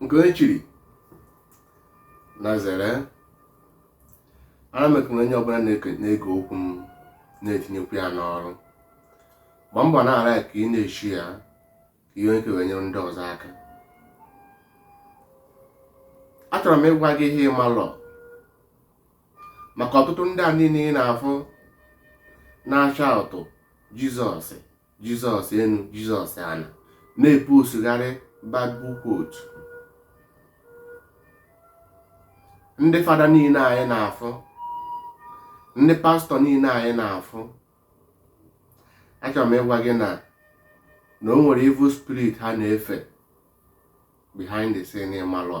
nke onye chiri nya zere ara m ekele onye ọbụla na-ege okwu m na-etinyekwu ya n'ọrụ gba mbọ na-ara ka ị na-eshare ya ka i nwee ike wee nyere ndị ọzọ aka achọrọ m ịgwa gị ihe ị malọ maka ọtụtụ ndị a niile ị na-afụ na-ashout jizọs jizọs enu jizọs ana na-epostgharị bible quote ndị fada niile anyị na-afụ ndị pastọ niile anyị na-afụ achọrọ m ịgwa gị na na o nwere evil spirit ha na-efe behind the scene ị malọ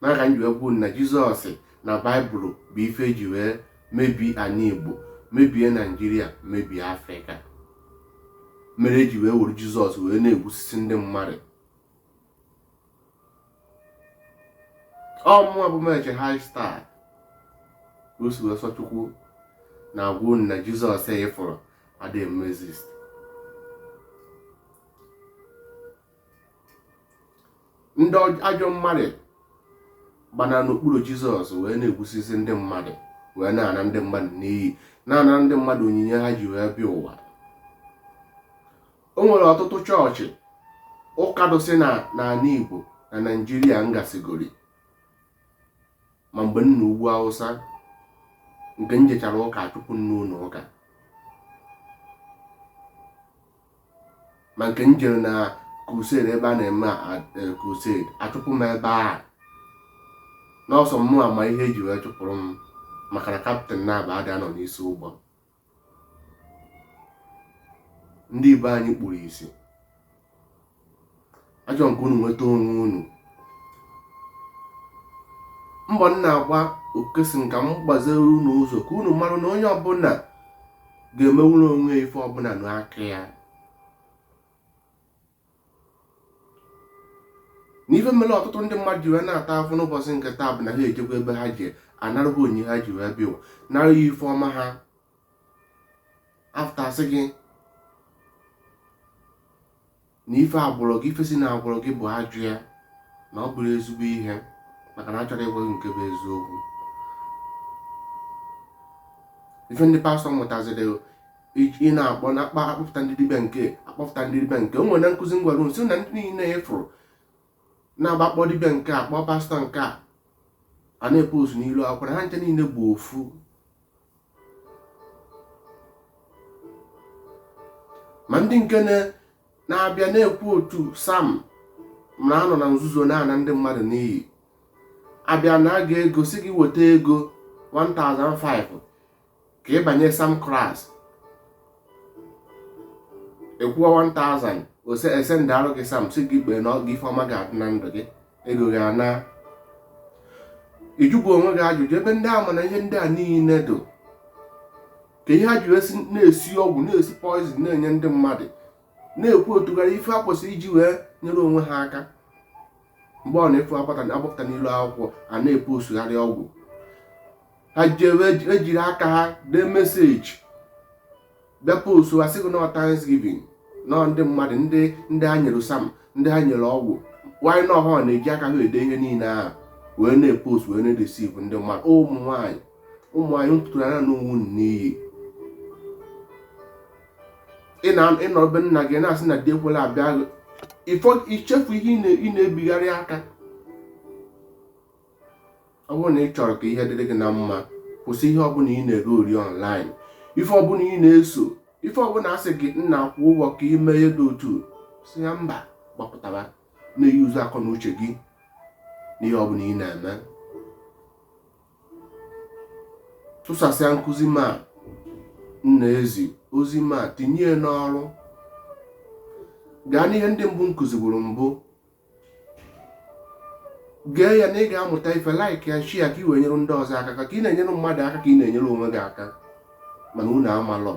nya ka m ji wee kwuo na jizọs na baịbụl bụ ife eji wee mebie ani igbo mebie naijiria mebie afrịka mere eji wee were jizọs wee na-egbusisi ndị mmadụ ọ mụwa bụ meche high star o si wee sọ chukwu na-agwa unu na jizọs ị fụrụ adịghị eme exist ndị ajọ mmadụ gbana n'okpuru jizọs wee na-egbusisi ndị mmadụ wee na-ana ndị mmadụ n'iyi na-ana ndị mmadụ onyinye ha ji wee bịa ụwa o nwere ọtụtụ chọọchị ụka dịsị na ani igbo na naijiria m gasigoro ma mgbe m nọ ugwu awụsa nke m jechara ụka chụpụ m n'ụlọ ụka ma nke m jere na crusade ebe a na-eme eh, crusade achụpụ m ebe a na ọ sọ mụwa ma ihe eji wee chụpụrụ m maka na kaptịn naabọ ada anọ n'isi ụgbọ ndị be anyị kpuru isi achọrọ m ka unu nweta onwe unu mbọ m na-agba ọ ka asị m ka m gbaziere unu ụzọ ka unu mara na onye ọbụla ga-emenwuru onwe ya ife ọbụla n'aka ya na ife mere ọtụtụ ndị mmadụ ji wee na-ata afụfụ n'ụbọchị nke taa bụ na ha ejekwa ebe ha ji anara ha onyinye ha ji wee bịa ụwa nara ha ife ọma ha after asị gị na ife agwụrụ gị ife si na agwụrụ gị bụ ajọ ihe na ọ bụrọ ezigbo ihe maka na achọrọ m ịgwa gị nke bụ eziokwu ife ndị pastọ mụtaziri ị na-akpọ na akpa akpọpụta ndị dibịa nke akpọpụta ndị dibịa nke o nwere na nkụzi m gwara sị na ndị niile ị fụrụ na-agba akpọ dibịa nke a kpọọ pastọ nke a a na-epostu n'ilu akwụkwọ na ha ncha niile bụ ofu ma ndị nke na-abịa na-ekwu otu sam na anọ na nzuzo na-ana ndị mmadụ n'iyi abịa na aga ego sị gị weta ego 1005 ka ị banye sam klas ị kwụọ 1000 ose esendịarụ gị sam sị gị kpee na gị ife ọma ga-adị na ndụ gị ego gị ana ị jụbu onwe gị ajụjụ ebe ndị ama na ihe ndị a niile do ka ihe ha ji esi na-esi ọgwụ na-esi poizin na-enye ndị mmadụ na-ekwutọgharị ife ha kwesịrị iji wee nyere onwe ha aka mgbe ọ na-efu agbata na-agbapụta n'iru akwụkwọ a na-epostugharị ọgwụ ha jewe ejiri aka ha dee meseji bịa postu asị gị na ọ Thanksgiving na ọ ndị mmadụ ndị ndị ha nyere sam ndị ha nyere ọgwụ nwanyị na ọ ha na-eji aka ha ede ihe niile ahụ wee na-epost wee na-edesiv ndị mmadụ ụmụ nwaanyị ụmụ anyị mpụtara na onwe unu n'iyi ị na ị nọ be nna gị na-asị na di ekwela abịa gị ifo ichefu ihe ị na- ị na-ebigharị aka ọ bụrụ na ị chọrọ ka ihe dịrị gị na mma kwụsị ihe ọbụla ị na-egere ọnlaịn ife ọbụla ị na-eso ife ọbụla asị gị nna kwụọ ụgwọ ka ị mee dị otu sị ya mba gbapụtara na-eyuzu akọ na uche gị n'ihe ọbụla ị na-eme tụsasịa nkụzi m a na ezi ozi m a tinye n'ọrụ gaa n'ihe ndị mbụ m kụziburu mbụ gee ya na ị ga-amụta ife laik ya shịa ya ka ị wee nyere ndị ọzọ aka ka ị na-enyere mmadụ aka ka ị na-enyere onwe gị aka mana unu amalọ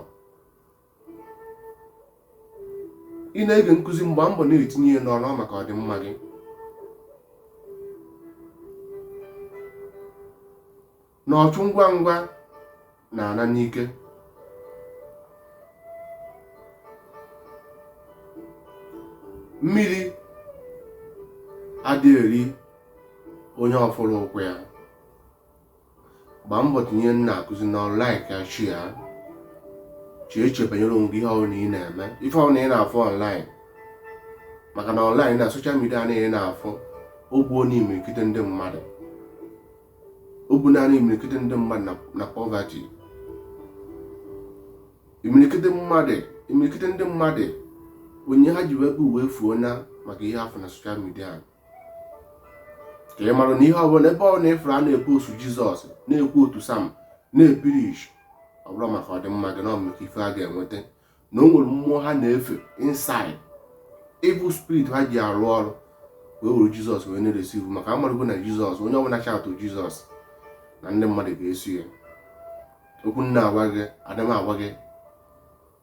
ị na-ege nkụzi m gbaa mbọ na-etinye ya n'ọrụ maka ọdịmma gị na ọchụ ngwa ngwa na-ana n'ike mmiri adịghị eri onye ọ fụrọ ụkwụ ya gbaa mbọ tinye nkụzi a n'ọrụ laik ya shịa ya chee echiche banyere onwe gị ihe ọbụna ị na-eme ife ọbụna ị na-afụ ọnlaịn maka na ọnlaịn na soshal midia anyị na-afụ o gbuona imirikiti ndị mmadụ o gbuona imirikiti ndị mmadụ na pọvati imirikiti mmadụ imirikiti ndị mmadụ ihe ha ji wee bịa ụwa efuona maka ihe ha fụ na soshal midia ka ị mara na ihe ọbụla ebe ọbụna ị fụrụ a na-ekwusa jizọs na-equote psalm na-epreach ọ bụrọ maka ọdịmma gị na ọ bụ maka ife ha ga-enweta na o nwere mmụọ ha na-efe inside evil spirit ha ji arụ ọrụ wee were jizọs wee na-eresi ife maka a marụgo na jizọs onye ọbụla chaatụ jizọs na ndị mmadụ ga-eso ya okwu m na-agwa gị ada m agwa gị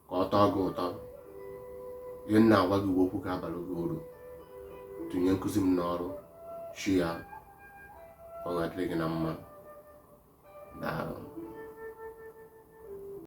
ka ọ tọọ gị ụtọ ihe m na-agwa gị bụ okwu ga-abara gị uru tinye nkụzi m n'ọrụ chi ya ọ ga-adịrị gị na mma daalụ